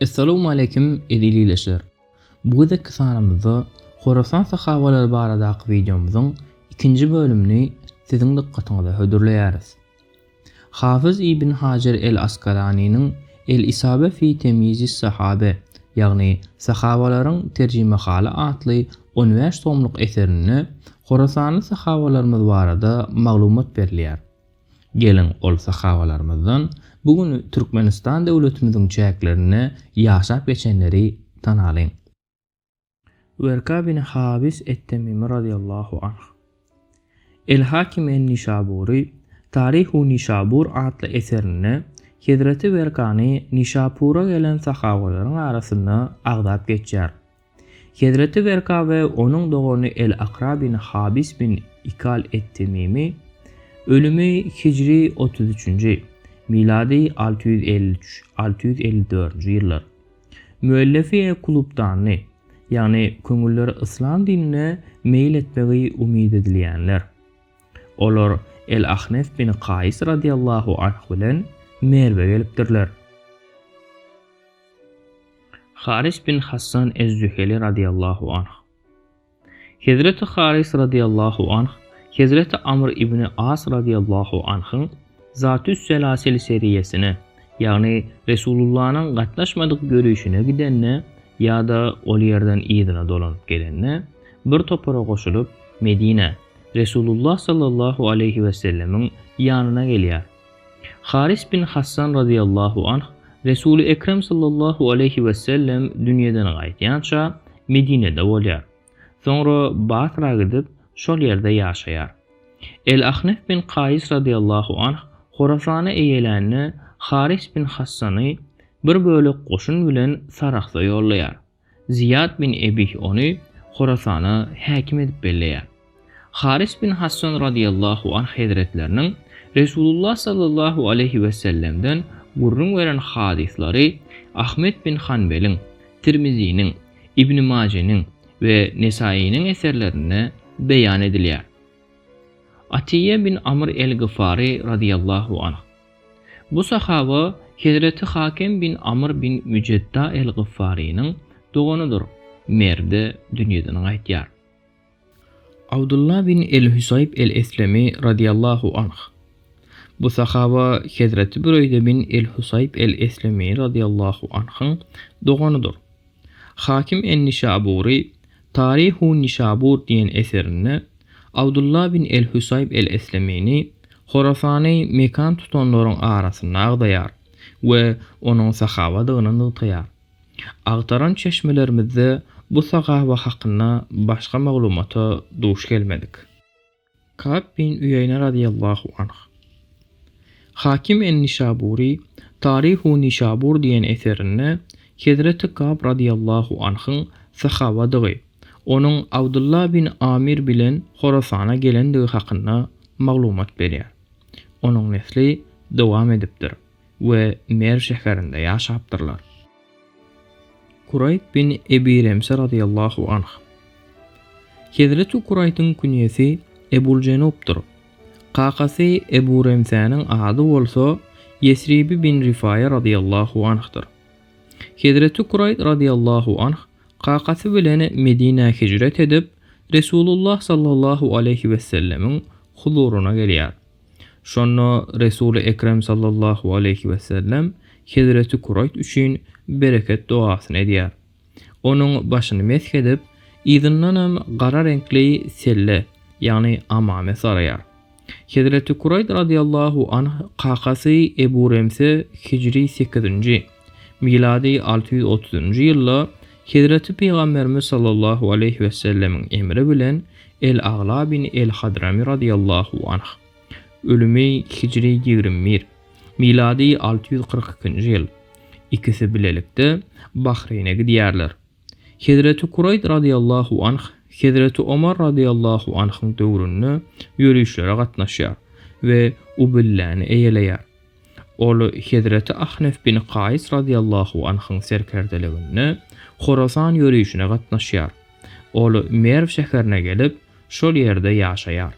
Essalamu aleýkum eziz ildeşler! Bu gezekki sanymyzda Horasan sahabalary baradaky wideomyzyň ikinji bölümini siziň dykgatyňyza hödürleýäris. Hafyz ibn Hajar el-Askalanynyň El-Isabe fi temýizis sahabe, ýagny Sahabalaryň terjimehaly atly on bäş tomluk eserinde horasanly sahabalarymyz barada maglumat berilýär. Geliň, ol sahabalarymyzdan bu gün Türkmenistan döwletimiziň çäklerinde ýaşap geçenleri tanalyň. Werka bin Habis et-Temimi razyýallahu anh. El-Hakim en-Nişabury Taryhu Nişabur atly eserinde hezreti Werkany Nişapura gelen sahabalaryň arasynda agzap geçýär. Hezreti Werka we onuň dogany El-Akra bin Habis bin Ikal et-Temimi, ölümi hijri otuz üçünji, milady alty ýüz elli üç, alty ýüz elli dördünji ýyllar, müellefi kulubdandy, ýagny köňülleri yslam dinine meýil etmegi umyt edilýänler. Olar El-Ahnef bin Kaýys radiyallahu anh bilen Merwe gelipdirler. Haris bin Hassan ez-Züheli radyýallahu anh. Hezreti Haris radyýallahu anh Hezreti Amr ibni As radyýallahu anhyň Zatüs-Selasil seriýesine, ýagny Resulullanyň gatnaşmadyk ýörişine gidende ýa-da ol ýerden yzyna dolanyp gelende bir topara goşulyp, Medinä, Resulullah sallallahu aleýhi wesellemiň ýanyna gelýär. Haris bin Hassan razyýallahu anh, Resuly Ekrem sallallahu aleýhi wesellem dünýeden gaýdýança Medinede bolýar. Soňra Basra gidip, şol ýerde ýaşaýar. El-Ahnef bin Kaýys razyýallahu anh Horasany eýelände Haris bin Hassany bir bölek goşun bilen Sarahsa ýollaýar. Zyýat bin Ebih ony Horasana häkim edip belleýär. Haris bin Hassan radyýallahu anh hezretleriniň Resulullah sallallahu aleýhi wesellemden gürrüň beren hadyslary Ahmet bin Hanbeliň, Tirmiziniň, Ibni Majeniň we Nesainiň eserlerinde beýan edilýär. Atyýýe bin Amr el-Gyfary radyýallahu anh. Bu sahaba Hezreti Hakem bin Amr bin Müjedda el-Gyffarynyň doganydyr, merdi dünýeden gaýtýar. Abdullah bin el-Hüsaýb el-Eslemi radyýallahu anh. Bu sahaba Hezreti Büreýde bin el-Husaýb el-Eslemi radyýallahu anhyň doganydyr. Hakim en-Nişabury Taryhu Nişabur diýen eserinde Abdullah bin el-Hüsaýb el-Eslemini Horasany mekan tutanlaryň arasynda agzaýar we onuň sahabadygyny nygtaýar. Agtaran çeşmelerimizde bu sahaba hakynda başga maglumata duş gelmedik. Kab bin Üýeýne razyýallahu anh. Hakim en-Nişabury Taryhu Nişabur diýen eserinde hezreti Kab razyýallahu anhyň sahabadygy, onuň Abdullah bin Amir bilen Horasana gelendigi hakynda maglumat berýär. Onuň nesli dowam edipdir. we Merw şäherinde ýaşapdyrlar. Kuraýt bin Ebi Remse razyýallahu anh. Hezreti Kuraýtyň künýesi Ebul-Jenupdyr. Kakasy Ebu Remsäniň ady bolsa Ýesribi bin Rifaýa razyýallahu anhdyr. Hezreti Kuraýt razyýallahu anh kakasy bilen Medinä hijret edip, Resulullah sallallahu aleýhi wessellemiň huzuryna gelýär. Şonda Resul-i Ekrem sallallahu aleýhi wesellem hezreti Kuraýt üçin bereket dogasyny edýär. Onuň başyny mesh edip, yzyndanam gara reňkli selle, ýagny amame saraýar. Hezreti Kuraýt razyýallahu anh kakasy Ebu Remse hijri sekizinji, milady alty ýüz otuzynjy ýylda Hezreti Pygamberimiz sallallahu aleýhi wesellemiň emri bilen El-Agla bin El-Hadramy radyýallahu anh, ölümi hijri ýigrimi bir, milady alty ýüz kyrk ikinji ýyl, ikisi bilelikde Bahreýne gidýärler. Hezreti Kuraýd radyýallahu anh Hezreti Omar radyýallahu anhyň döwründe ýörişlere gatnaşýar we Ubilläni eýeleýär. Ol hezreti Ahnef bin Kaýs razyýallahu anhyň serkerdeliginde Horasan ýörişine gatnaşýar. Ol Merw şäherine gelip, şol ýerde ýaşaýar.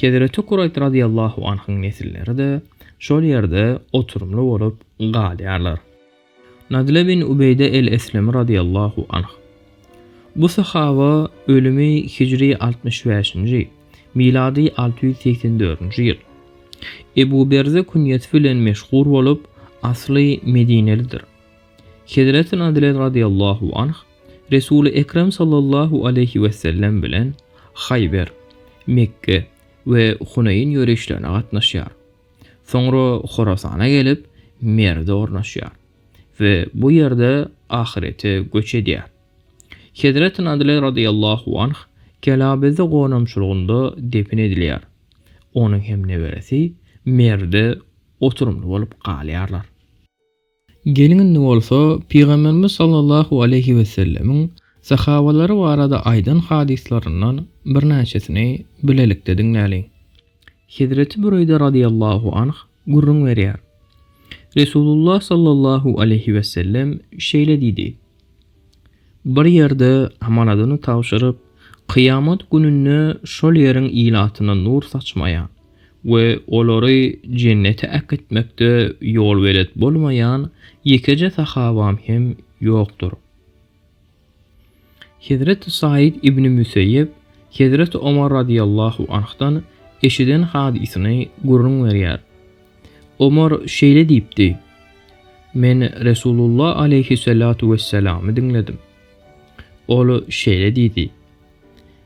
Hezreti Kuraýt razyýallahu anhyň nesilleri-de şol ýerde oturymly bolup galýarlar. Nadle bin Ubeýde el-Eslemi razyýallahu anh. Bu sahaba ölümi hijri altmyş bäşinji, milady alty ýüz segsen dördünji ýyl. Ebu Berze künýesi bilen meşhur bolup, asly medinelidir. Hezreti Nadle razyýallahu anh Resuly Ekrem sallallahu aleýhi wesellem bilen Haýber, Mekge we Huneýn ýörişlerine gatnaşýar. Soňra Horasana gelip, Merwde ornaşýar we bu ýerde ahyrete göç edýär. Hezreti Nadle radyllahu anh Kelabeze gonamçylygynda depin edilýär. Onuň hem neberesi Merwde oturymly bolup galýarlar. Geliň indi bolsa Pygamberimiz sallallahu aleýhi wesellemiň sahawalary barada aýdan hadyslaryndan birnäçesini bilelikde diňläliň. Hezreti Büreýde radyýallahu anh gürrüň berýär. Resulullah sallallahu aleýhi wesellem şeýle diýdi. Bir ýerde amanadyny tabşyryp, kyýamat gününde şol ýeriň ilatyna nur saçmaýan we olary Jennete äkitmekde ýolbelet bolmaýan ýekeje sahabam hem ýokdur. Hezreti Saýid ibni Müseýýep Hezreti Omar radiyallahu anhdan eşiden hadysyny gürrüň berýär. Omar şeýle diýipdi, Men Resulullah aleýhyssalatu wessalamy diňledim. Ol şeýle diýdi,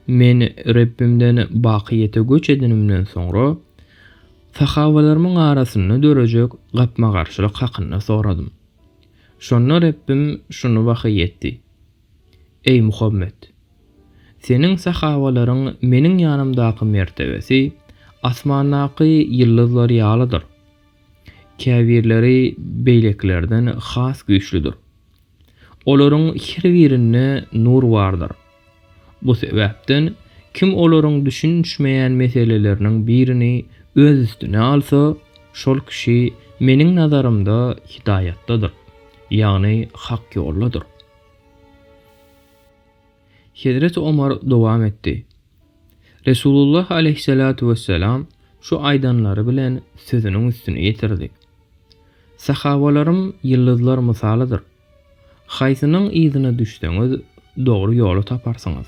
Men Rebbimden bakyýete göç edenimden soňra, sahabalarymyň arasynda dörejek gapma-garşylyk hakynda soradym. Şonda Rebbim şuny wahyý etdi. Eý, Muhammet! Seniň sahawalaryň meniň ýanymdaky mertebesi asmandaky ýyldyzlar ýalydyr. Käbirleri beýlekilerden has güýçlüdir. Olaryň her birinde nur bardyr. Bu sebäpden kim olaryň düşünişmeýän meseleleriniň birini öz üstüne alsa, şol kişi meniň nazarymda hidaýatdadyr. Ýagny hak ýoldadyr. Hezreti Omar dowam etdi. Resulullah aleýhissalatu wessalam şu aýdanlary bilen sözüniň üstüni ýetirdi. Sahabalarym ýyldyzlar mysalydyr. Haýsynyň yzyna düşseňiz dogry ýoly taparsyňyz.